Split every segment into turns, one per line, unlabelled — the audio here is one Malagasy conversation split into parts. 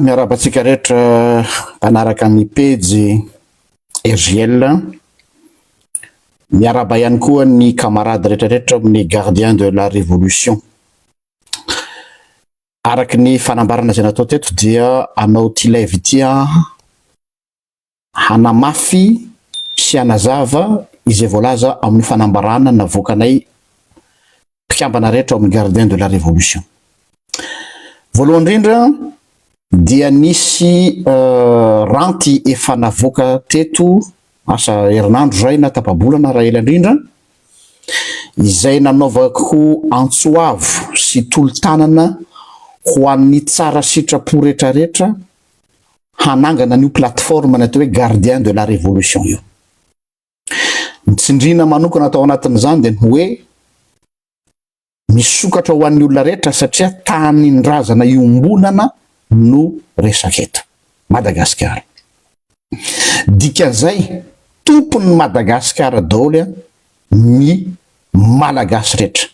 miaraba antsika rehetra eh, mpanaraka ny pejy rgl miaraba ihany koa ny camarade rehetrarehetra amin'ny gardien de la révolution Araka ny fanambarana izay natao teto dia hanao ity live ity hanamafy sy hanazava izay voalaza amin'ny fanambarana navoakanay mpikambana rehetra ao amin'ny Gardien de la Révolution. Voalohany indrindra dia nisy euh, ranty efa navoaka teto Asa herinandro izay na tapa-bolana raha ela indrindra, izay nanaovako antso avo sy tolo-tanana ho an'ny tsara sitrapo rehetrarehetra hanangana an'io plateforme natao hoe Gardien de la Révolution io. Ny tsindriana manokana tao anatin'izany dia ny hoe, Misokatra ho an'ny olona rehetra satria tanindrazana iombonana no resaka eto Madagasikara. Dikan'izay tompon'ny Madagasikara daoly an ny Malagasy rehetra.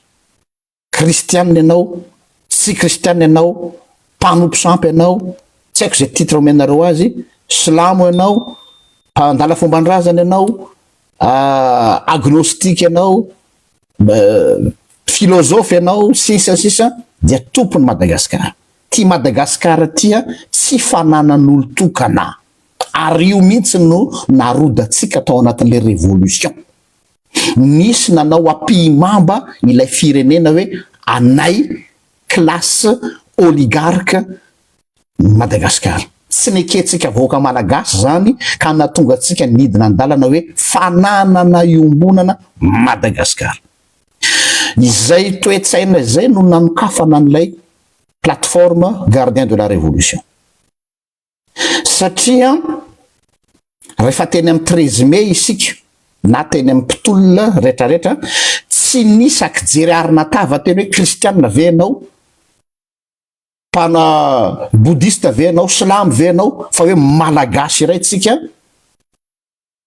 Kristianina ianao, tsy kristianina ianao, mpanompo sampy ianao, tsy haiko izay titre omenareo azy, silamo ianao, mpandala fomban-drazana ianao, agnostique ianao, Philosophe ianao sisa sisa dia tompony Madagascar. Tia Madagascar tia tsy fananan'olo-tokana. Ary io mihitsy no narodantsika tao anatin'ilay révolution. Nisy nanao ampihimamba ilay firenena hoe anay classe oligarque Madagasikara. Tsy nekentsika vahoaka Malagasy izany ka nahatonga antsika nidina an-dalana hoe fananana iombonana Madagasikara. Izay toe-tsaina izay no nanokafana an'ilay plateforme Gardiens de la Révolution. Satria rehefa teny amin'ny treize mai isika na teny amin'ny mpitolona retraretra tsy nisy akijery arina tava teny hoe kristiana ve ianao? mpana bodista ve ianao, silamo ve ianao, fa hoe malagasy iray tsika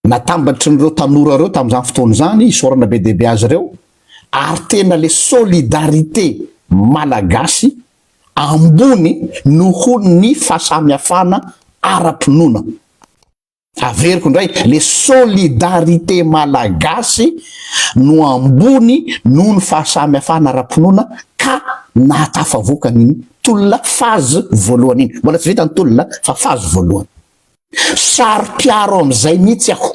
natambatry n'ireo tanora ireo tamin'izany fotoana izany, isaorana be dia be azy ireo, ary tena le solidarité malagasy ambony noho ny fahasamihafana ara-pinoana. Averiko indray, le solidarité malagasy no ambony noho ny fahasamihafana ara-pinoana ka nahatafavoaka an'iny tolona phase voalohany iny. Mbola tsy vita ny tolona fa phase voalohany. Saro-piaro amin'izay mihitsy aho.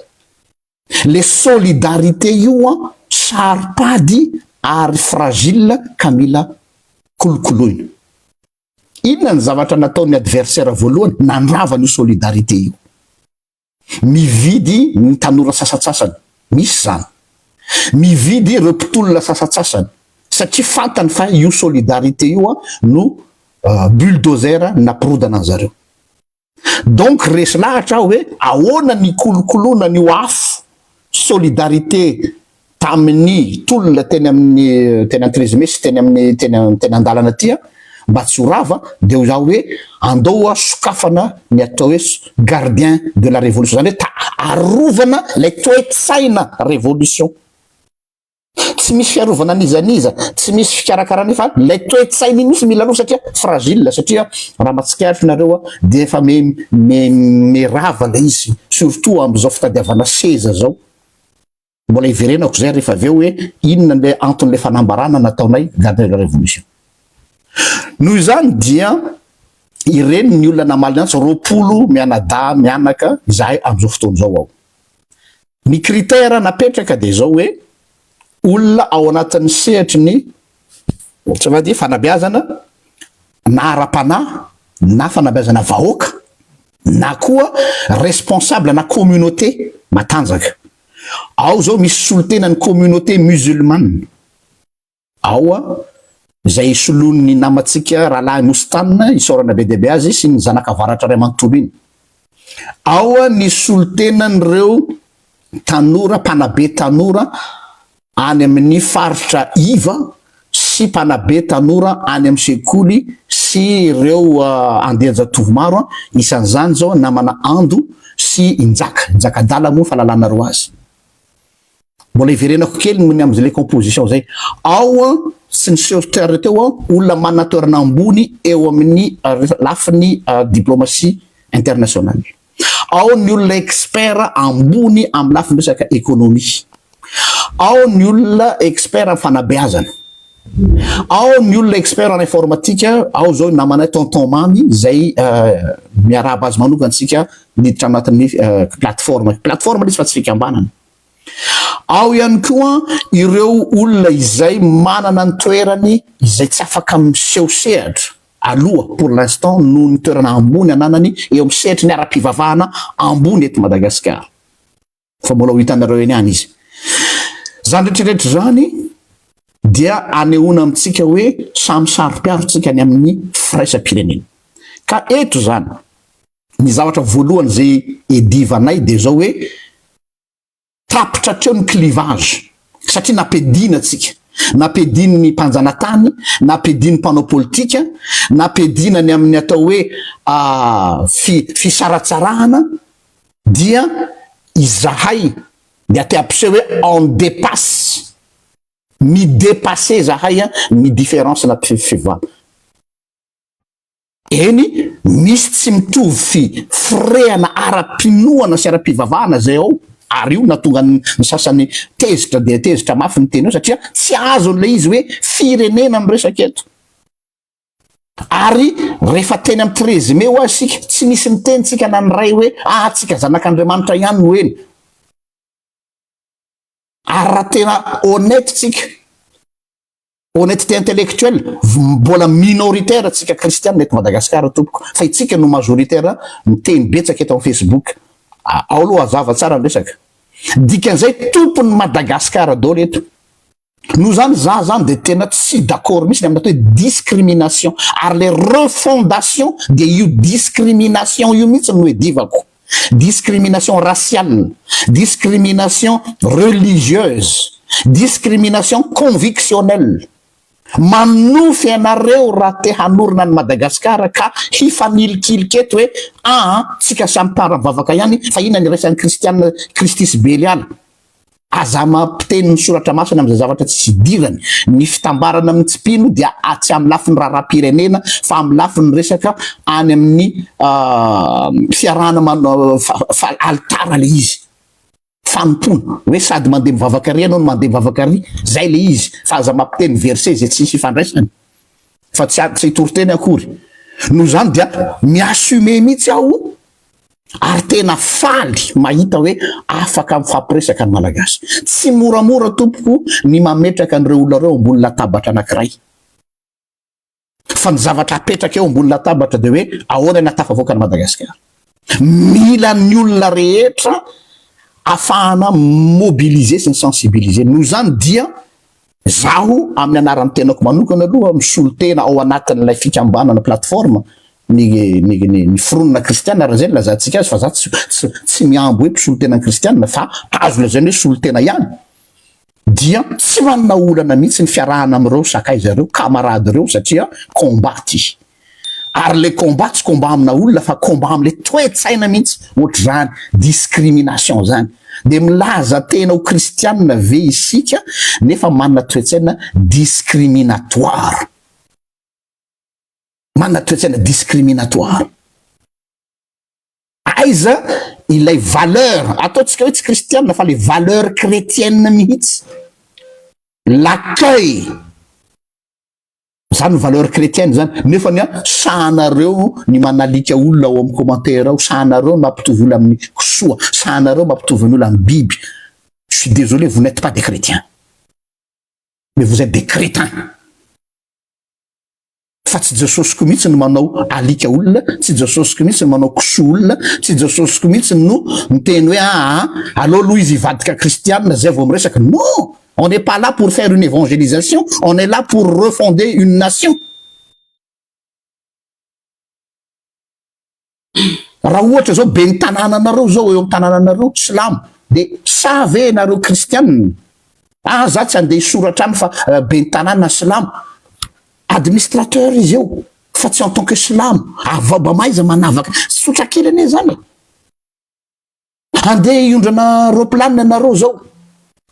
Le solidarité io an, saro-pady ary fragile ka mila kolokoloina. Inona ny zavatra nataon'ny adversaire voalohany nandrava an'io solidarité io? Mividy ny tanora sasatsasany, misy zany. Mividy ireo mpitolona sasatsasany satria fantany fa io solidarité io no bulldozer napirodana anzareo. Donc resy lahatra aho hoe ahoana ny hikolokoloana an'io afo solidarité tamin'ny tolona teny amin'ny teny Antrezime sy teny amin'ny teny teny an-dalana aty an, mba tsy ho rava dia hoy za hoe andao hoa sokafana ny atao hoe gardien de la révolution, zany hoe ta arovana ilay toe-tsaina révolution. tsy misy fiarovana n'iza n'iza, tsy misy fikarakarana fa ilay toe-tsainy mihitsy mila aloha satria fragile satria raha mba tsikaritra nareo a dia efa me me merava ilay izy surtout amin'izao fitadiavana seza zao mbola hiverenako zay rehefa avy eo hoe inona le anton'le fanambarana nataonay garde de la révolution noho izany dia ireny ny olona namaly antsy roapolo mianadahy mianaka izahay amin'izao fotoana izao aho Ny critère napetraka dia izao hoe olona ao anatin'ny sehatry ny tsy va dia fanabeazana na ara-panahy na fanabeazana vahoaka na koa responsable na communauté matanjaka. Ao izao misy solotenan'ny communauté musulmane. Ao a! Izay hisoloany ny namantsika Rahalahy Mustan isaorana be dia be azy sy ny Zanaka Avaratra iray manontolo iny. Ao a! Ny solontenan'ireo tanora, mpanabe tanora any amin'ny faritra iva sy mpanabe tanora any amin'ny sekoly sy ireo andian-jatovo maro a! Isan'izany izao namana Ando sy i Njaka. I Njaka adala moa fa lalanareo azy. Mbola hiverenako kely ny amin'izay composition izay. Ao an, sy ny soeur-Terre teo an, olona manana toerana ambony eo amin'ny lafiny diplomatie internationale. Ao ny olona expert ambony amin'ny lafiny resaka economie. Ao ny olona expert amin'ny fanabeazana. Ao ny olona expert en informatique, ao izao ny namanay tonton mamy izay miarahaba azy manokana isika miditra anatin'ny plateforme. Plateforme ilay izy fa tsy fikambanana. Ao ihany koa ireo olona izay manana ny toerany izay tsy afaka miseho sehatra aloha pour l'instant noho ny toerana ambony ananany eo amin'ny sehatry ny ara-pivavahana ambony eto Madagasikara. fa mbola ho hitanareo eny any izy. Izany rehetrarehetra izany dia anehoana amintsika hoe samy saro-piaro tsika any amin'ny firaisam-pirenena. Ka eto izany, ny zavatra voalohany izay edivanay dia izao hoe tapitra hatreo ny clivage satria nampediana tsika nampedian'ny mpanjanatany nampedian'ny mpanao politika nampediana ny amin'ny atao hoe ah, fi, fisaratsarahana Dia izahay dia te hampiseho hoe on depasse, mi-depasser izahay ny difference na fiovana. Eny, misy tsy mitovy fifrehana ara-pinoana sy ara-pivavahana izay ao, ary io nahatonga ny sasany tezitra dia tezitra mafy niteny eo, satria tsy azon'ilay izy hoe firenena no resaka eto. Ary rehefa teny amin'ny treize mai ho'a isika, tsy nisy niteny tsika na niray hoe, ah tsika zanak'Andriamanitra ihany no eny. Ary raha tena honnête tsika, honnêteté intellectuelle, mbola minoritaire tsika kristiana eto Madagasikara tompoko, fa itsika no majoritaire miteny betsaka eto amin'ny Facebook. Ao aloha hazava tsara ny resaka. Dikan'izay tompon'i Madagasikara daholo eto. Noho izany za zany dia tena tsy d'accord mihitsy ny amin'ny atao hoe discrimination ary le refondation dia io discrimination io mihitsy no edivako. Discrimination raciale, discrimination religieuse, discrimination convictionnelle. Manonofy anareo raha te hanorina an'i Madagasikara ka hifanilikilika eto hoe aa tsika samy mpara-bavaka ihany fa inona ny iraisan'ny kristiana kristy sy beliala. Aza mampiteny ny soratra masina amin'izay zavatra tsisy idirany. Ny fitambarana amin'ny tsy mpino dia tsy amin'ny lafiny raharaham-pirenena fa amin'ny lafiny resaka any amin'ny fiarahana fa alitara ilay izy. Fanompoana. Hoe sady mandeha mivavaka ary ianao no mandeha mivavaka ary. Izay ilay izy. Fa aza mampiteny verset izay tsisy ifandraisany. Fa tsy hitoriteny akory. Noho izany dia mi-assumer mihitsy aho Ary tena faly mahita hoe afaka mifampiresaka ny Malagasy. Tsy moramora tompoko ny mametraka an'ireo olona ireo ambony latabatra anankiray. Fa ny zavatra apetraka eo ambony latabatra dia hoe ahoana ny ahatafavoaka an'i Madagasikara. Mila ny olona rehetra afahana mobiliser sy ny sensibiliser. Noho izany dia Izaho amin'ny anaran'ny tenako manokana aloha misolo tena ao anatin'ilay fikambanana plateforme ny ny ny ny fironana kristiana raha izay no ilazantsika azy fa izaho tsy tsy tsy mihambo hoe mpisolo tena ny kristiana fa azo lazaina hoe solo tena ihany dia tsy manana olana mihitsy ny fiarahana amin'ireo sakaiza ireo camarade ireo satria combat ity Ary le combat tsy combat amina olona fa combat amle toe-tsaina mihitsy ohatr'izany discrimination zany. De milaza tena ho kristianina ve isika nefa manana toe-tsaina discriminatoire. Manana toe-tsaina discriminatoire. Aiza ilay valeur, ataontsika hoe tsy kristianina fa le valeur chretienne mihitsy. L'accueil. Zany ny valeur chrétienne zany. Nefa ny sahanareo ny manalika olona ao amin'ny commentaire ao, sahanareo ny mampitovy olona amin'ny kisoa, sahanareo mampitovy ny olona amin'ny biby. Je suis désolé, vous n'êtes pas des chrétiens. Mais vous êtes des crétins. Fa tsy Jesosiko mihitsy no manao alika olona, tsy Jesosiko mihitsy no manao kisoa olona, tsy Jesosiko mihitsy no miteny hoe aa, aleo aloha izy hivadika kristianina zay vao miresaka. Non! On n'est pas là pour faire une évangélisation, on est là pour refonder une nation. Raha ohatra zao be ny tanànanareo zao eo am tanànanareo silamo de sa ve nareo kristianina ah za tsy andeha hisoratra any fa euh, be ny tanàna silamo administrateur izy eo fa tsy en tant que silamo avaba ah, maiza manavaka sotra kely anie zany Handeha hiondrana roplanina nareo zao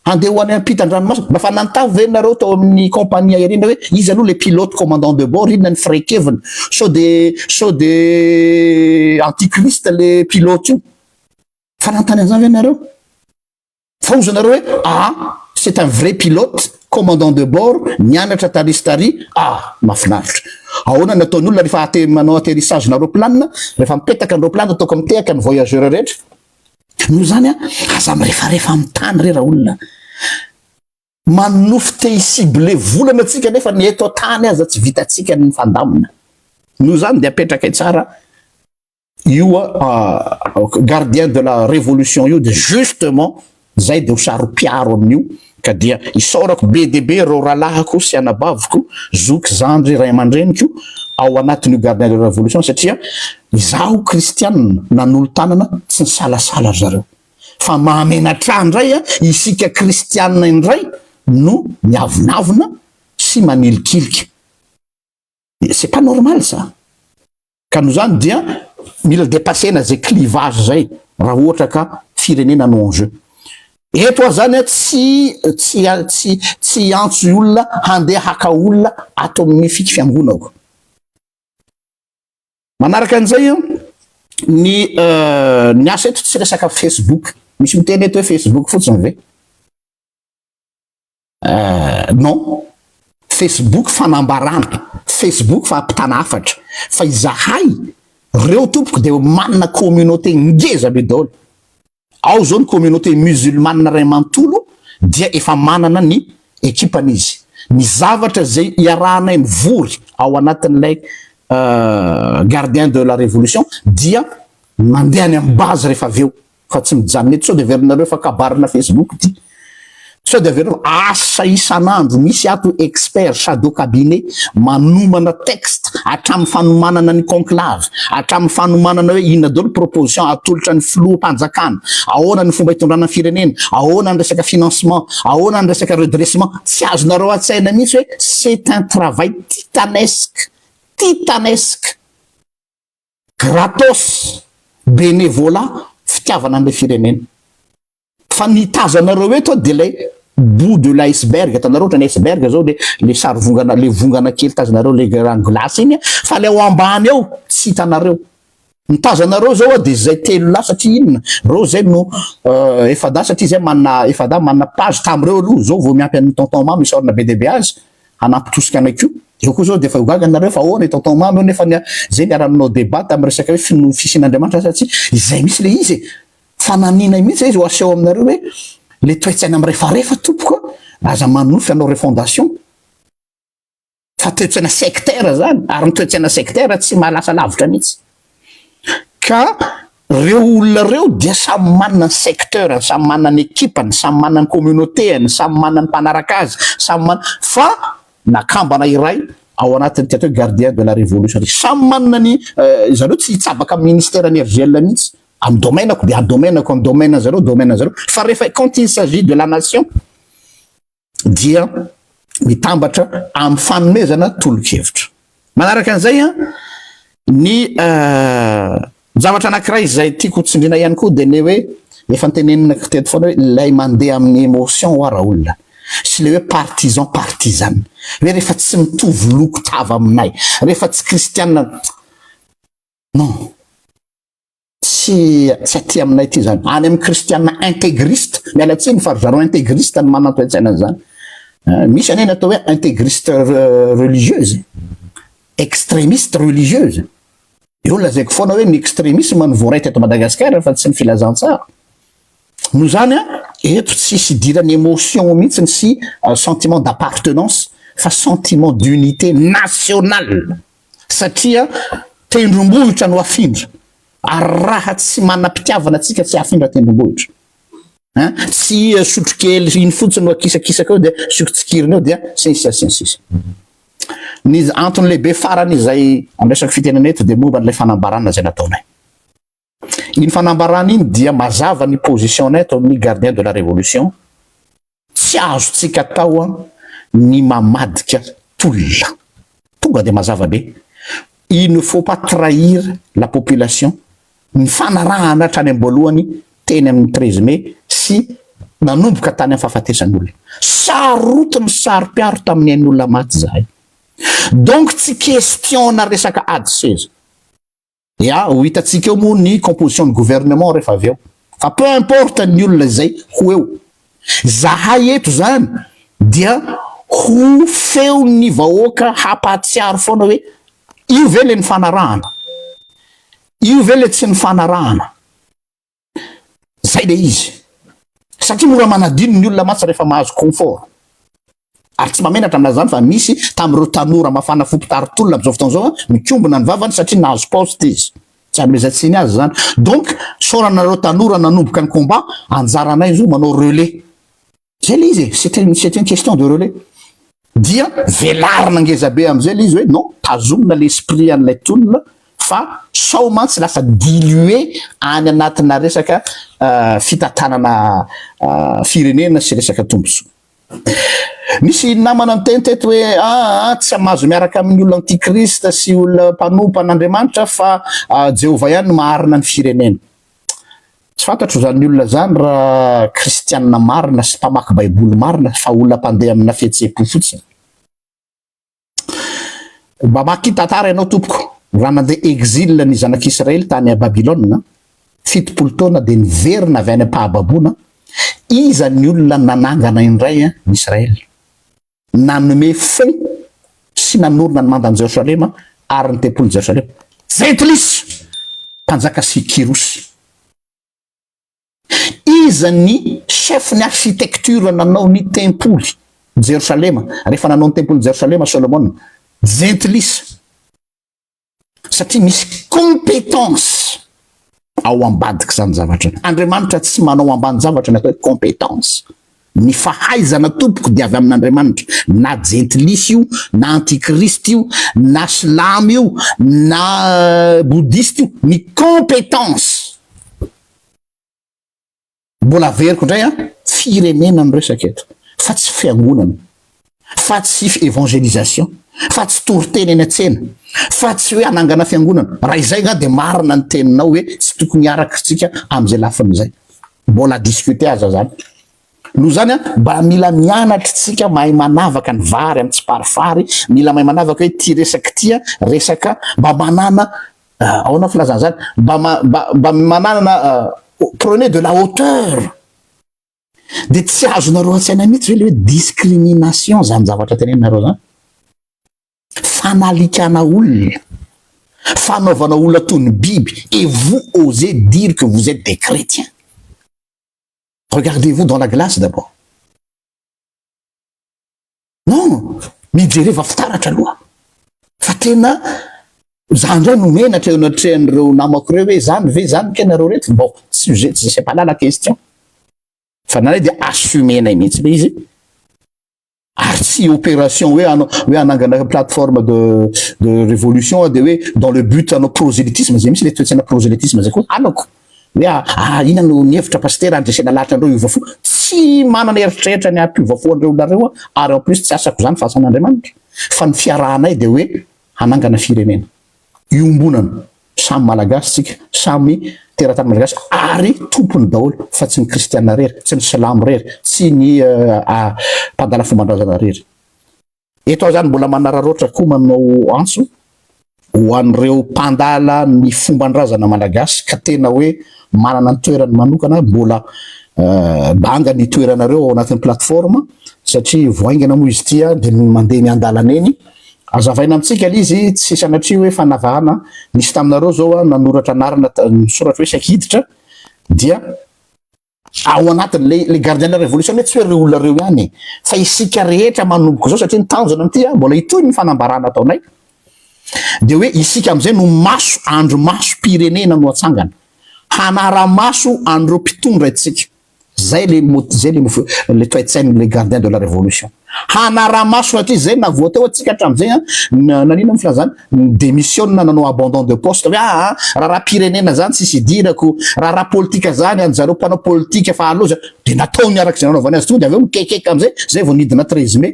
handeha ho any ampita andranomasina mba fa nantavo ve nareo tao aminy compagnie aerienne hoe iza aloha le pilote commandant de bord inona ny firaikeviny sao de sao de antichrist le pilote io fa nantany anzany ve nareo fa ozy nareo hoe ah c'est un vrai pilote Commandant de bord nianatra tarisitary ah mafinaritra ahoana ny ataon'ny olona rehefa ate manao atterissage na roplanina rehefa mipetaka ny roplanina toaka mitehaka ny voyageur rehetra noho izany a aza mirefarefa amin'ny tany re raolona manonofy te hicible volana atsika nefa ny eto tany aza tsy vitatsika ny mifandamina noho izany dia apetraka tsara io gardien de la révolution io dia justement zay dia ho saro-piaro amin'io ka dia isaorako be dia be ireo rahalahiko sy anabaviko zoky zandry ray aman-dreniko ao anatin'io gardien de la révolution satria izaho kristianina nanolo-tanana tsy nisalasala ry zareo fa mahamenatra indray a isika kristianina indray no miavonavona sy manilikilika C'est pas normal ça! Ka noho izany dia mila depasser-na izay clivage izay raha ohatra ka firenena no en jeu. Eto aho izany tsy tsy tsy tsy hiantso olona handeha haka olona ato amin'ny fik fiangonako. Manaraka an'izay ny ny asa eto tsy resaka facebook. Misy miteny eto hoe facebook fotsiny ve? Euh, non, Facebook fanambarana, Facebook fa ampitana hafatra, fa izahay reo tompoko de manana communauté ngeza be daholo. Ao zao ny communauté musulmane ray mantolo dia efa manana ny ekipany izy. Ny zavatra zay iarahanay mivory ao anatin'ilay euh, gardien de la révolution dia mandeha any amin'ny base rehefa avy eo. fa tsy mijanona eto sao de averinareo fa kabarina facebook ity sao de avereo asa isan'andro misy ato expert shadow cabinet manomana texte hatramin'ny fanomanana ny conclave hatramin'ny fanomanana hoe inona daholo proposition atolotra ny filoham-panjakana ahoana ny fomba itondrana ny firenena ahoana ny resaka financement ahoana ny resaka redressement tsy azonareo an-tsaina mihitsy hoe c'est un travail titanesque titanesque gratos, bénévolat, fitiavana an'ilay firenena. Fa ny itazo anareo eto dia ilay bout de l'iceberg, hitanareo ohatrany iceberg zao le le sary vongana le vongana kely tazonareo le rano glace iny, fa le ao ambany ao tsy hitanareo. Ny tazo anareo zao dia zay telo lahy satria inona, reo zay no efa-dahy satria zay manana efa-dahy manana page tamin'ireo aloha, zao vao miampy an'i tonton mamy isaorana be dia be azy, hanampitosika anay koa. Zao koa zao dia efa ho gaga nareo fa ahoana i tonton mamy eo nefa zay niara nanao debat tam resaka hoe finoa fisian'Andriamanitra sa tsia, izay mihitsy le izy e! Fananinay mihitsy le izy ho aseho aminareo hoe le toetsaina mirefarefa tompoko a! Aza manonofy hanao refondation fa toetsaina sectaire zany ary ny toetsaina sectaire tsy mahalasa lavitra mihitsy. Ka reo olona reo dia samy manana ny secteur-ny, samy manana ny ekipa-ny, samy manana ny communauté-any, samy manana ny mpanaraka azy, samy manana, fa na kambana iray ao anatin'ity atao hoe gardien de la révolution ty, samy manana ny izany hoe tsy hitsabaka amin'ny ministère-ny RGL mihitsy, amin'ny domaine-ko dia domaine-ko, amin'ny domaine-ny zareo domaine-ny zareo, fa rehefa quand il s'agit de la nation, dia mitambatra amin'ny fanomezana tolo-kevitra. Manaraka an'izay, ny zavatra anankiray izay tiako ho tsindriana ihany koa dia ilay hoe efa noteneninako teto foana hoe ilay mandeha amin'ny émotion ho'a raolona sy ilay hoe partisan partisan hoe rehefa tsy mitovy loko tava aminay, rehefa tsy kristiana non. Tsy tsy aty aminay aty izany. Any amin'ny kristiana integriste, miala tsiny fa ry zareo integriste no manana toe-tsaina an'izany. Eh, misy anie ny atao hoe integriste re- religieuse, extremiste religieuse. Eo lazaiko foana hoe ny extremisme no voaray teto Madagasikara fa tsy ny filazantsara. Noho izany an, eto tsy hisy idiran'ny émotion mihitsy sy eh, sentiment d'appartenance fa sentiment d'unité nationale. Satria tendrombohitra no afindra ary raha tsy manam-pitiavana antsika tsy hafindra tendrombohitra hein, tsy sotrokely iny fotsiny no akisakisaka eo dia asiako tsikiriny eo dia sy ny sisa sy ny sisa. Ny antony lehibe farany izay andraisako fitenenana eto dia momba an'ilay fanambarana izay nataonay. Iny fanambarana iny dia mazava ny position-nay eto amin'ny Gardien de la Révolution, tsy azontsika atao ny mamadika tolona. Tonga dia mazava be, il ne faut pas trahir la population, nifanarahana hatrany am-boalohany teny amin'ny treize mai sy nanomboka tany amin'ny fahafatesan'olona. Sarotiny saro-piaro tamin'ny ain'olona maty izahay. Donc tsy question-na resaka ady seza. Ya, ho hitantsika eo moa ny composition ny gouvernement rehefa avy eo. Fa peu importe ny olona izay ho eo. Zahay eto izany dia ho feon'ny vahoaka hampahatsiaro foana hoe io ve ilay nifanarahana? Io ve ilay tsy nifanarahana? Zay le izy. Satria mora manadino ny olona mantsy rehefa mahazo confort. Ary tsy mahamenatra ny milaza izany fa misy tamin'ireo tanora mafana fo mpitari tolona amin'izao fotoana izao mikombona ny vavany satria nahazo poste izy. Tsy hanomezan-tsiny azy izany. Donc, isaorana anareo tanora nanomboka ny combat, anjaranay izao manao relais. Zay le izy e, c'est un, c'est une question de relais. Dia velarina ngeza be am'zay le izy hoe non, tazomina le esprit an'ilay tolona fa sao mantsy lasa dilué any anatina resaka fitantanana firenena sy resaka tombontsoa. Misy namana niteny teto hoe aa tsy amazo miaraka amin'ny olona antikrista sy olona mpanompa an'Andriamanitra fa Jehovah ihany no maharina ny firenena. Tsy fantatro izany olona izany raha kristianina marina sy mpamaky baiboly marina fa olona mpandeha amina fihetseham-po fotsiny. Mba maki tantara ianao tompoko, raha nandeha exil ny zanak'Israely tany à Babylona, fitopolo taona dia niverina avy any am-pahababoana, iza ny olona nanangana indray an Israel? Nanome fo sy nanorina ny mandan'i Jerosalema ary ny tempolin'i Jerosalema Jentilisa, mpanjaka sy Kyrosy. Iza ny chefon'ny architecture nanao ny tempoly Jerosalema, rehefa nanao ny tempolin'i Jerosalema Solomona? Jentilisa. satria misy competence ao ambadika izany zavatra ny andriamanitra tsy manao ambany zavatra ny atao hoe competence ny fahaizana tompoko dia avy amin'andriamanitra na jentilisy io na antikristy io na slamy io na euh, bodisty io ny competence Mbola averiko indray an, firenena no resaka eto fa tsy fiangonana, fa tsy evangelisation, fa tsy toriteny eny an-tsena, fa tsy hoe hanangana fiangonana, raha izay nga dia marina ny teninao hoe tsy tokony hiaraka isika amin'izay lafiny izay. Mbola à discuter aza zany. Noho izany an, mba mila mianatra isika mahay manavaka ny vary amin'ny tsiparifary, mila mahay manavaka hoe ity resaka ity an, resaka mba manana Ah, aona filazana zany mba mba mananana ah, prenez de la hauteur de tsy azonareo an-tsaina mihitsy ve le hoe discrimination zany zavatra tenenareo zany fanalikana olona fanaovana olona toy ny biby et vous osez dire que vous êtes des chrétiens regardez-vous dans la glace d'abord non mijereva fitaratra aloha fa tena za ndray no menatra eo anatrehan'ireo namako ireo hoe zany ve zany ke nareo reto bon sujet tsy c'est pas là la question fa nanay dia assumenay mihitsy le izy ary tsy opération hoe anao hoe hanangana plateforme de de révolution dia hoe dans le but anao prosélytisme zay mihitsy le toetsaina prosélytisme zay koa halako Hoe ah ah inona no nihevitra Pasitera handresena lahatra an'ireo hiova fo? Tsy manana eritreritra ny hampiova fo an'ireo olona ireo aho ary en plus tsy asako izany fa asan'Andriamanitra fa ny fiarahanay dia hoe hanangana firenena iombonana samy Malagasy tsika samy teratany Malagasy ary tompony daholo fa tsy ny Kristiana rery, tsy ny silamo rery, tsy ny ah mpadala fombandrazana rery. Eto aho izany mbola manararaotra koa manao antso ho an'ireo mpandala ny fomban-drazana malagasy ka tena hoe manana ny toerany manokana, mbola banga ny toeranareo ao anatin'ny plateforme satria vao haingana moa izy ity dia mandeha eny an-dalana eny. Azavaina amintsika ilay izy, tsy sanatria hoe fanavahana, nisy taminareo izao nanoratra anarana, misoratra hoe saika hiditra dia. ao anatiny le le gardien de la révolution anie tsy hoe reo olona reo ihany e fa isika rehetra manomboka izao satria ny tanjona amin'ity a mbola hitohy ny fanambarana ataonay de hoe isika am'izay no maso andro maso pirenena no atsangana hanara maso an'ireo mpitondra itsika zay le mot zay le mofo le toetsain'le gardien de la révolution Hanara-maso hatrizay izay na voateo antsika hatramin'izay an, nanino ny filazana? Ni-demissiona nanao abandon de poste hoe aa raharaham-pirenena izany tsisy idirako, raharaha politika izany an zareo mpanao politika fa aleo izany, dia nataony araka izay nanaovany azy tokoa dia avy eo nikekeka amin'izay, izay vao nidina treize mai.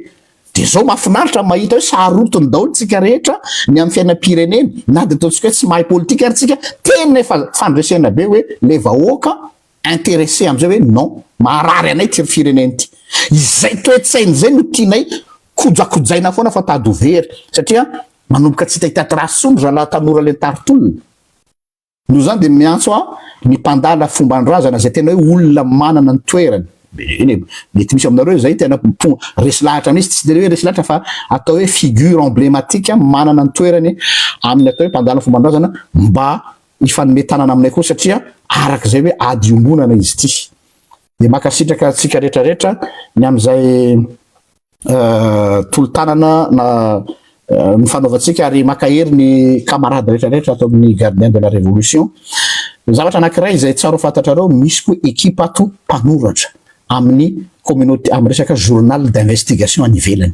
Dia izao mahafinaritra ny mahita hoe sarotiny daholo tsika rehetra ny amin'ny fiainam-pirenena na dia ataontsika hoe tsy mahay politika ary tsika, tena efa fandresena be hoe ilay vahoaka interesse amizay hoe non maharary anay ity firenena ity izay toetsaina izay no tianay kojakojaina foana fa tady ho very satria manomboka tsy hita trace tsony zalahy tanora lentary tolona noho zany dia miantso aho ny mpandala fombandrazana izay tena hoe olona manana ny toerany eny mety misy aminareo izay tena mpo resy lahatra misy tsy tena hoe resy lahatra fa atao hoe figure emblématique manana ny toerany amin'ny atao hoe mpandala fombandrazana mba hifanome tanana aminay koa satria araka izay hoe ady iombonana izy ity dia makasitraka antsika rehetra rehetra ny amin'izay tolotanana na ny fanaovantsika ary makahery ny camarade rehetra rehetra ato amin'ny gardien de la révolution ny zavatra anakiray izay tsaro fantatrareo misy koa ekipa ato mpanoratra amin'ny communauté amin'ny resaka journal d'investigation any ivelany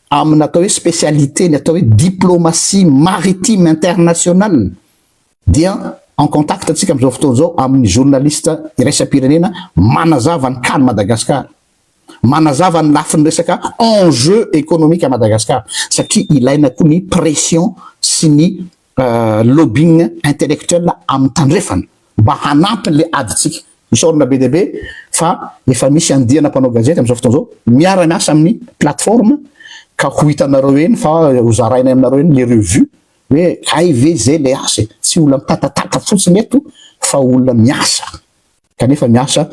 amina atao hoe spécialité ny atao hoe diplomatie maritime internationale dia en contact antsika amin'izao fotoana izao amin'ny journaliste iraisam-pirenena manazava ny kany Madagascar, manazava ny lafiny resaka enjeu économique à Madagascar satria ilaina koa ny pression sy ny lobbying intellectuel amin'ny tandrefana mba hanampy an'ilay adintsika. Isaorana be dia be fa efa misy andiana mpanao gazety amin'izao fotoana izao miara miasa amin'ny plateforme ka ho hitanareo eny fa ho zarainay aminareo eny ny revue hoe hay ve izay ilay asa e! tsy olona mitatatata fotsiny eto fa olona miasa. Kanefa miasa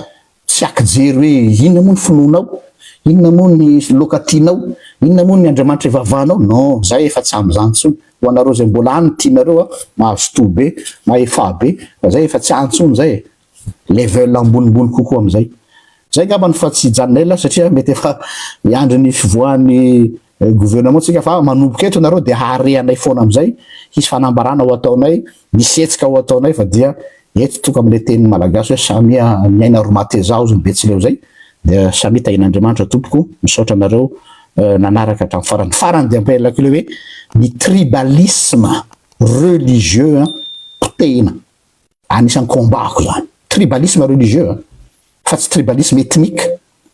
tsy akijery hoe inona moa ny finoanao, inona moa ny loka tianao, inona moa ny Andriamanitra ivavahanao, non, za efa tsy amin'izany intsony, ho anareo izay mbola any ny tianareo a, mazotoa be, mahefà be, fa zay efa tsy any intsony izay e, level ambonimbony kokoa amin'izay. Zay angambany fa tsy hijanona ela satria mety efa miandry ny fivoahan'ny. Gouvernement tsika fa manomboka eto nareo dia hahare anay foana amizay hisy fanambarana ho ataonay misy hetsika ho ataonay fa dia eto toka amle teniny malagasy hoe samia miaina ry matezao zny betsileo zay dia samia tahin'Andriamanitra tompoko misaotra anareo nanaraka hatram farany farany dia ampahelako le hoe ny tribalisme religieux an potehina anisan'ny combat ko zany tribalisme religieux fa tsy tribalisme ethnique